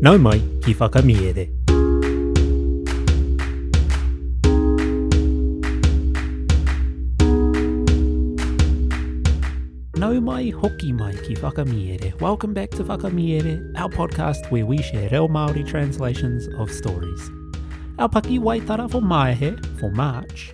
Nau mai ki Whakamiere. Nau mai, hoki mai ki Whakamiere. Welcome back to Whakamiere, our podcast where we share reo Māori translations of stories. Our pakiwaitara for Maehe, for March,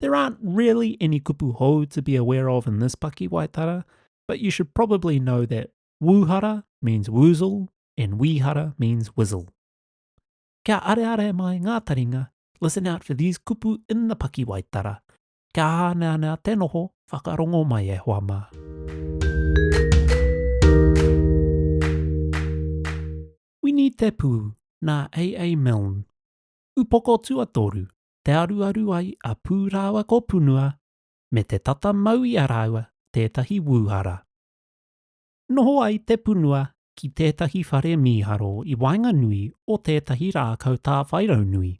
There aren't really any kupu hou to be aware of in this pakiwaitara, but you should probably know that wūhara means woozle and wīhara means wizle. Kia areare mai ngā taringa, listen out for these kupu in the pakiwaitara. Kia hāneanea te noho, whakarongo mai e hoa mā. Wini Te Pū, nā A.A. Milne. Upoko tuatoru, te aruaru ai a Pū rāua ko Punua me te tata mau i a rāua tētahi wūhara. Noho ai te punua ki tētahi whare mīharo i waenganui o tētahi rākau tāwhairaunui,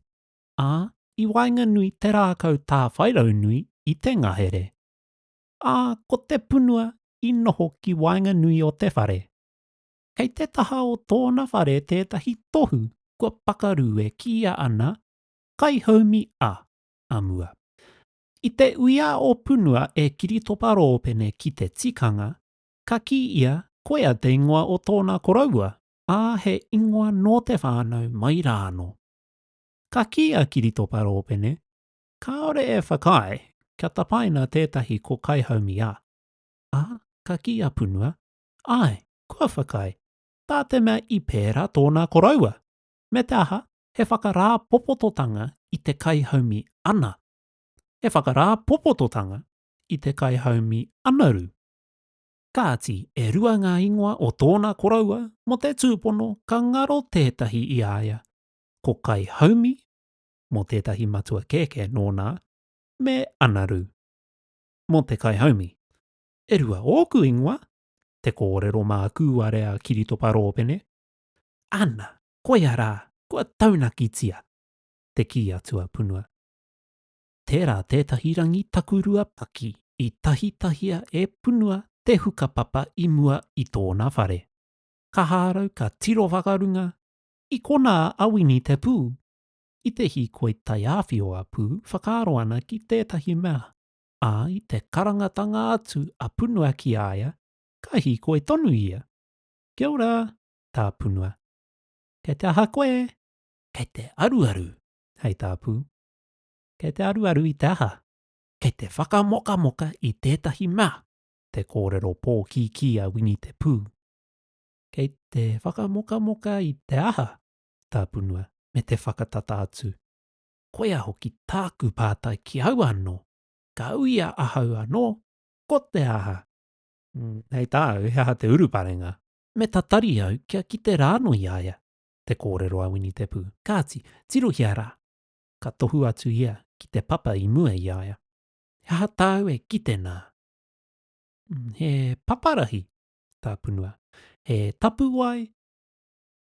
ā, i waenganui te rākau tāwhairaunui i te ngahere. Ā, ko te punua i noho ki waenganui o te whare. Kei te taha o tōna whare tētahi tohu kua pakaru e kīia ana Kaihaumi a, a mua. I te uia o Punua e Kiritopa Roopene ki te tikanga, ka kī ia koia te ingoa o tōna koroua, ā, he ingoa nō te whānau mai rānō. Ka kī a Kiritopa Roopene, kāore e whakaae kia tapaina tētahi ko Kaihaumi a, ā, ka kī a Punua, āe, kua whakaae, tā te mea i pērā tōna koroua, me te aha, he whakarāpopototanga i te kaihaumi ana, he whakarāpopototanga i te kaihaumi anaru. Kāti, e rua ngā ingoa o tōna koroua mō te tūpono ka ngaro tētahi i a ia, ko kaihaumi, mō tētahi matua kēkē nōna, me anaru, mō te kaihaumi. E rua ōku ingoa, te kōrero mā kūare a Kiritopa Rōpene, Ana, koia rā, kua taunakitia! te kī a Tuapunua. Tērā tētahi rangi takurua paki i tahitahia e Punua te hukapapa i mua i tōna whare. Ka hārau ka tiro whakarunga i konā a Wini te pū. I te hīkoi taiāwhio a Pū whakaaro ana ki tētahi mea, ā, i te karangatanga atu a Punua ki a ia, ka hīkoi tonu ia. Kia ora, Tāpunua. Kei te aha koe? Kei te aruaru, hei tāpū. Kei te aruaru i te aha? Kei te whakamokamoka i tētahi mea, te kōrero pōkīkī a Wini te Pū. Kei te whakamokamoka i te aha, Tāpunua, me te whakatata atu. Koia hoki tāku pātai ki au anō, ka uia ahau anō, ko te aha? Mm, hei tāu, he aha te uruparenga? Me tatari au kia kite rāno i a ia, te kōrero a Wini Te Pū. Kāti, tirohia rā! Ka tohu atu ia ki te papa i mua i a ia. He aha tāu e kite nā? Mm, he paparahi, tā Punua. He tapuwae?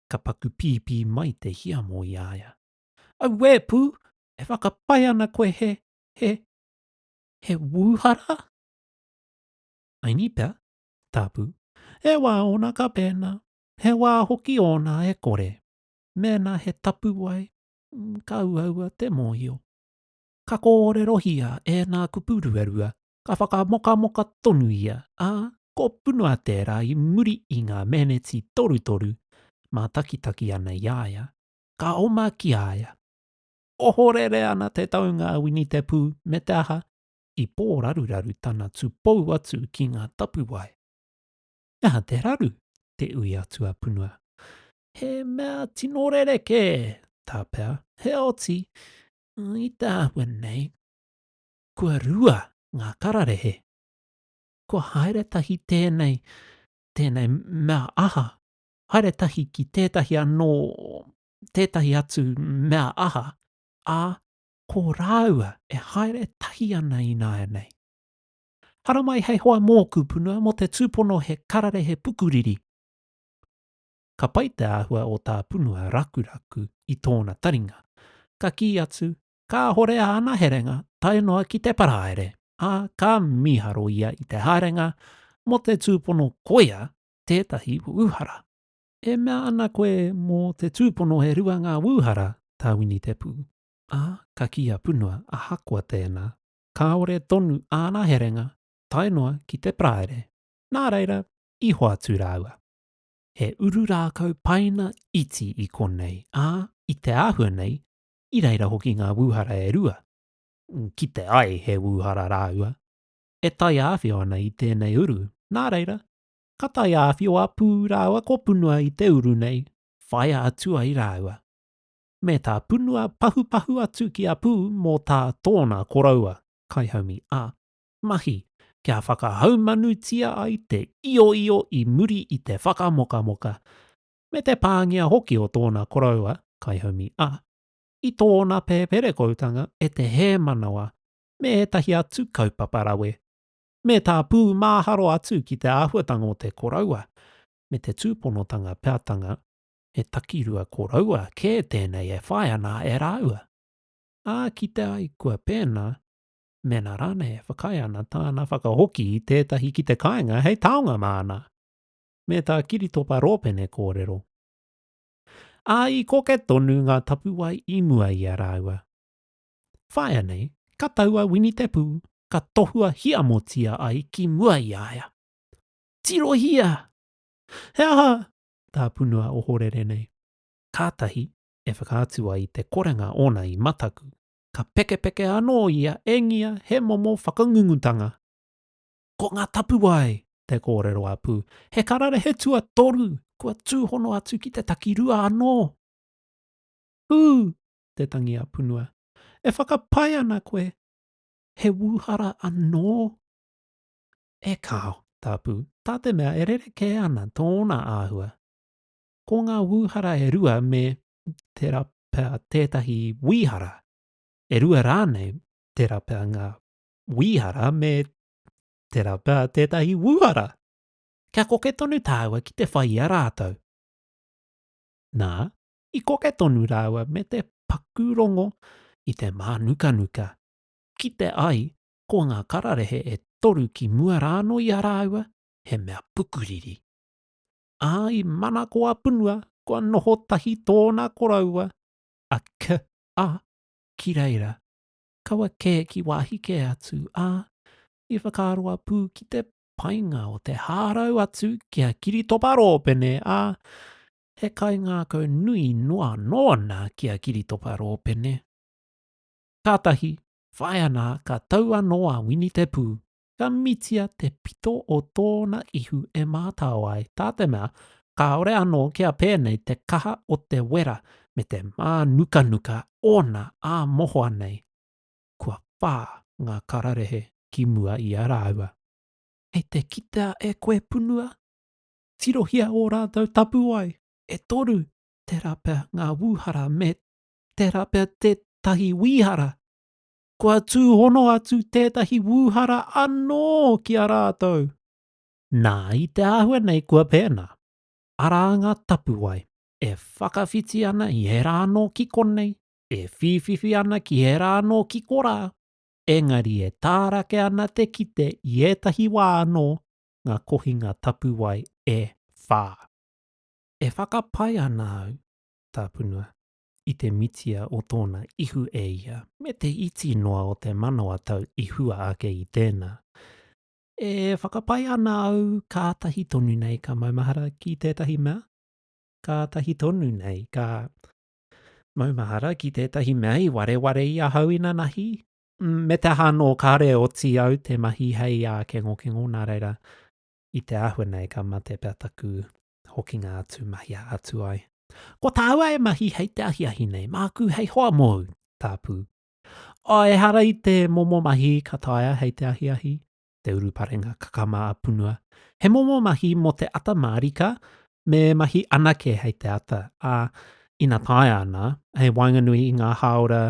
Ka paku pīpī mai te hiamo i a ia. Auē, Pū! E whakapae ana koe he, he, he wūhara? Aini pea, Tapu, he wā ōna ka pēnā, he wā hoki ōna e kore. Mēnā he tapuwae, ka uaua te mōhio. Ka kōrerohia e ngā kupu ruarua, ka whakamokamoka tonu ia, ā, ko Punua tērā i muri i ngā meneti torutoru mātakitaki ana i a ia, ka oma ki a ia. Ohorere ana te taunga a Winitepū me te aha, i pōraruraru tana tūpou atu ki ngā tapuwae. He aha te raru? te ui a Tuapunua. He mea tino rerekē, tā Pea. Heoti, i te āhua nei, kua rua ngā kararehe. Kua haere tahi tēnei, tēnei mea aha, haere tahi ki tētahi anō, tētahi atu mea aha, ā, ko rāua e haere tahi ana ināianei. Haramai hei hoa mōku punua mō te tūpono he kararehe pukuriri. Ka pai te āhua o tā punua rakuraku i tōna taringa. Ka kī atu, kāhore āna herenga tae noa ki te paraire, ā, ka mīharo ia i te haerenga mō te tūpono koia tētahi wūhara. E mea ana koe mō te tūpono e rua ngā wūhara, tā Winitepū. ā, ka kī a Punua ahakoa tēnā, kāore tonu āna herenga tae noa ki te Paraire, nā reira, i hoatu rāua. He uru rākau paina iti i konei, ā, i te āhua nei, i reira hoki ngā wūhara e rua, kite ai he wūhara rāua, e taiāwhio ana i tēnei uru, nā reira, ka taiāwhio a Pū rāua ko Punua i te uru nei, whaia atu ai rāua. me tā punua pahupahu atu ki a Pū mō tā tōna koroua, kaihaumi a, mahi, kia whakahaumanutia ai te ioio i muri i te whakamokamoka, me te pāngia hoki o tōna koroua, kaihaumi a, i tōna pēperekoutanga e te hēmanawa me ētahi atu kaupapa rawe, me tā Pū māharo atu ki te āhuatanga o te koroua, me te tūponotanga peatanga he takirua koroua kē tēnei e whai ana e rāua. Ā kite ai kua pēnā, mēnā rānei e whakaae ana tāna whakahoki i tētahi ki te kāinga hei taonga māna, me tā Kiritopa Rōpene kōrero. Ā, i koke tonu ngā tapuwae i mua i a rāua. Whaia nei, ka tau a Wini Te Pū, ka tohua hiamotia ai ki mua i a ia. Tirohia! He aha tā Punua ohorere nei. Kātahi e whakaatu ai te korenga ōna i mataku, ka pekepeke anō ia e ngia he momo whakangungutanga. Ko ngā tapuwae! te kōrero a Pū. He kararehe tuatoru, kua tūhono atu ki te takirua anō! Pū! te tangi a Punua. E whakapae ana koe he wūhara anō? E kāo, Tāpū, tā te mea e rerekē ana tōna āhua. Ko ngā wūhara e rua me tērā pea tētahi wīhara, e rua rānei tērā pea ngā wīhara me tērā pea tētahi wūhara. Kia koke tonu tāua ki te whai i a rātou. Nā, i koke tonu rāua me te paku rongo i te mānukanuka, kite ai ko ngā kararehe e toru ki mua rānō i a rāua, he mea pukuriri. Ā, i mana ko a Punua, kua noho tahi tōna koroua, a Ki a, ki reira, kaua kē ki wāhi kē atu, ā, i whakaaro a Pū ki te painga o te hārau atu ki a Kiritopa Rōpene, ā, he kaingākau nui noa nōna ki a Kiritopa Rōpene. Kātahi, Whāia nā, ka tau anō a Wini te pū, ka mitia te pito o tōna ihu e mātao ai, tā te mea, kāore anō kia pēnei te kaha o te wera me te mānukanuka ōna ā mohoa nei. Kua whā ngā kararehe ki mua i a rāua. Kei te kitea e koe punua? Tirohia ō rātou tapuwae, e toru tērā pea ngā wūhara me tērā pea tētahi wīhara. Kua tūhono atu tētahi wūhara anō ki a rātou. Nā, i te āhua nei kua pēnā, arā ngā tapuwae e whakawhiti ana i ērā anō ki konei, e whīwhiwhi ana ki ērā anō ki korā, engari e tārake ana te kite i ētahi wā anō ngā kohinga tapuwae e whā. E whakapae ana au, tāpunua, i te mitia o tōna ihu e ia. Me te iti noa o te manawa tau i hua ake i tēnā. E whakapae ana au kātahi tonu nei ka maumahara ki tētahi mea, kātahi tonu nei ka maumahara ki tētahi mea i wareware i ahau inanahi, me te aha anō kāre oti au te mahi hei ākengokengo nā reira, i te āhua nei ka mate pea taku hokinga atu mahia atu ai. Ko tāua e mahi hei te ahiahi nei, māku hei hoa mōu, tāpū. O, ehara i te momo mahi ka taea hei te ahiahi, te uruparenga kakama a Punua. He momo mahi mō te ata mārika, me mahi anake hei te ata, ā, ina taea ana, hei waenganui i ngā hāora,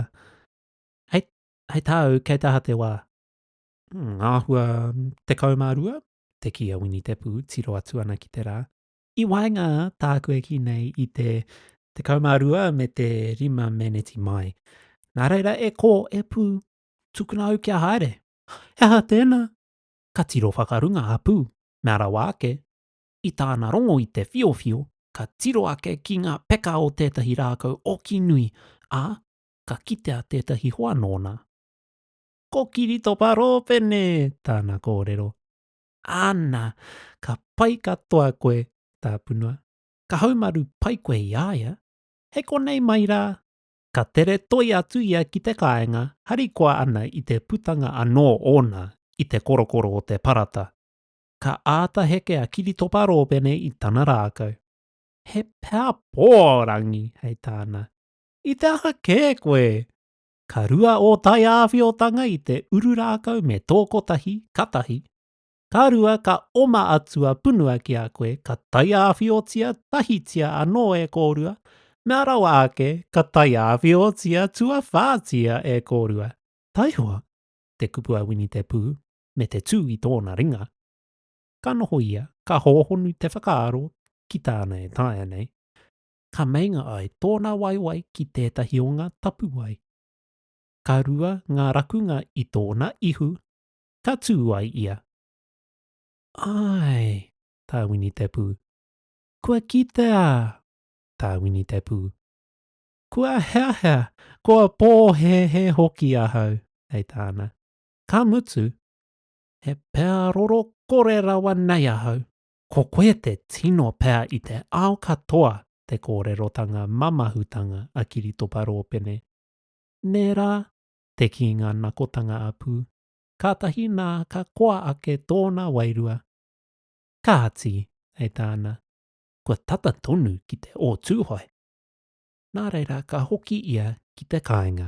hei, hei tāu, kei te aha te wā? Ngā hua tekau mā rua, te kī a Wini Te Pū, tiro atu ana ki te rā. I waenga tāku e kī nei i te 12 me te 5 meneti mai. Nā reira e kō, e Pū, tukuna au kia haere. He aha tēnā? Ka tiro whakarunga a Pū, mea rawa ake, i tāna rongo i te whiowhio, ka tiro ake ki ngā peka o tētahi rākau oki nui, ā, ka kitea tētahi hoa nōna. Ko Kiritopa Rōpene tāna kōrero. Āna, ka pai katoa koe, Tāpunua. Ka haumaru pai koe i a ia. Hei konei mai rā. Ka tere toi atu ia ki te kāinga, harikoa ana i te putanga anō ōna i te korokoro o te parata. Ka āta heke a Kiritopa Rōpene i tana rākau. He pēhapō, Rangi, hei tāna. I te aha kē koe? Ka rua ō taiāwhiotanga i te uru rākau me tō kotahi, ka tahi. Ka rua ka oma atu a punua ki a koe ka taiāwhiotia tahitia anō e kōrua, mea rawa ake ka taiāwhiotia tuawhātia e kōrua. Taihoa te kupu a Winitepū me te tū i tōna ringa. Ka noho ia, ka hōhonu te whakaaro ki tāna e taea nei. ka meinga ai tōna waewae ki tētahi o ngā tapuwae. Ka rua ngā rakunga i tōna ihu, ka tū ai ia. Āe, tā Winitepū. Kua kitea! tā Winitepū. Kua heahea, kua pōhēhē hoki ahau, hei tāna. Ka mutu, he pēa roro kore rawa nei ahau, Ko koe te tino pea i te ao katoa te kōrerotanga mamahutanga a Kiritopa Rōpene. Nē rā, te kīnga nakotanga a Pū, kātahi nā ka koa ake tōna wairua. Kāti, hei tāna, kua tata tonu ki te o Tūhoe. Nā reira ka hoki ia ki te kāinga.